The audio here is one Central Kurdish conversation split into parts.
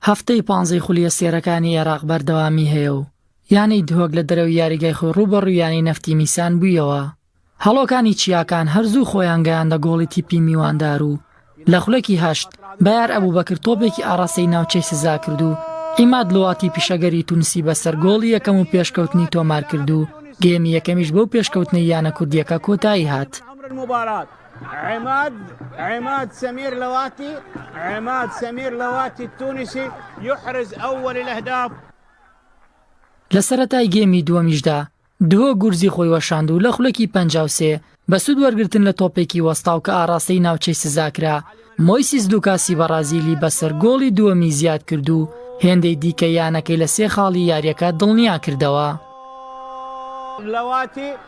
هەفتەی پانزەی خولیە سێرەکانی عێراق بەردەوامی هەیە و یانەی دهۆک لە دەرەوەی یاریگای خۆی ڕووبەڕوو یانەی نەفتی میسان بوویەوە هەڵۆکانی چیاکان هەرزوو خۆیان گەیاندە گۆڵی تیپی میواندار و لە خولەکی هەشت بەیار ئەبوو بەکرد تۆپێکی ئاڕاستەی ناوچەی سزا کرد و ئیماد لواتی پیشەگەری تونسی بەسەر گۆڵی یەکەم و پێشکەوتنی تۆمار کرد و گێمی یەکەمیش بەو پێشکەوتنەی یانە کوردیەکە کۆتایی هات. عمر مبارک عماد عماد سمير لواتي عماد سمير لواتي التونسي يحرز اول الاهداف لە سەرەتای گێمی دووەمیشدا دهۆک گورزی خۆی وەشاند و لە خولەکی پەنجا و سێ بە سوود وەرگرتن لە تۆپێکی وەستاو کە ئاڕاستەی ناوچەی سزاکرا مۆیسیس لوکاسی بەڕازیلی بەسەر گۆڵی دووەمی زیاد کرد و هێندەی دیکە یانەکەی لە سێ خاڵی یاریەکە دڵنیا کردەوە. لواتی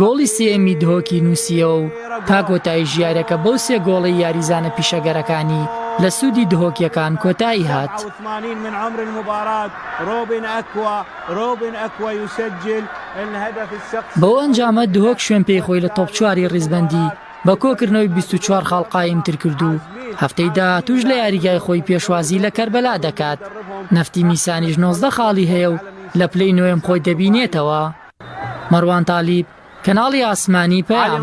گۆڵی سێیەمی دهۆکی نووسییەوە و تا کۆتایی ژیارەکە بەو سێ گۆڵەی یاریزانە پیشەگەرەکانی لە سوودی دهۆکییەکان کۆتایی هات. بەو ئەنجامە دهۆک شوێن پێی خۆی لە تۆپ چواری ریزبەندی بە کۆکردنەوەی بیست و چوار خاڵ قایمتر کرد و هەفتەی داهاتووش لە یاریگای خۆی پێشوازی لە کەربەلا دەکات، نەفتی میسانیش نۆزدە خاڵی هەیە و لە پلەی نۆیەم خۆی دەبینێتەوە. مەروان تالیب، کەناڵی ئاسمانی پەیام.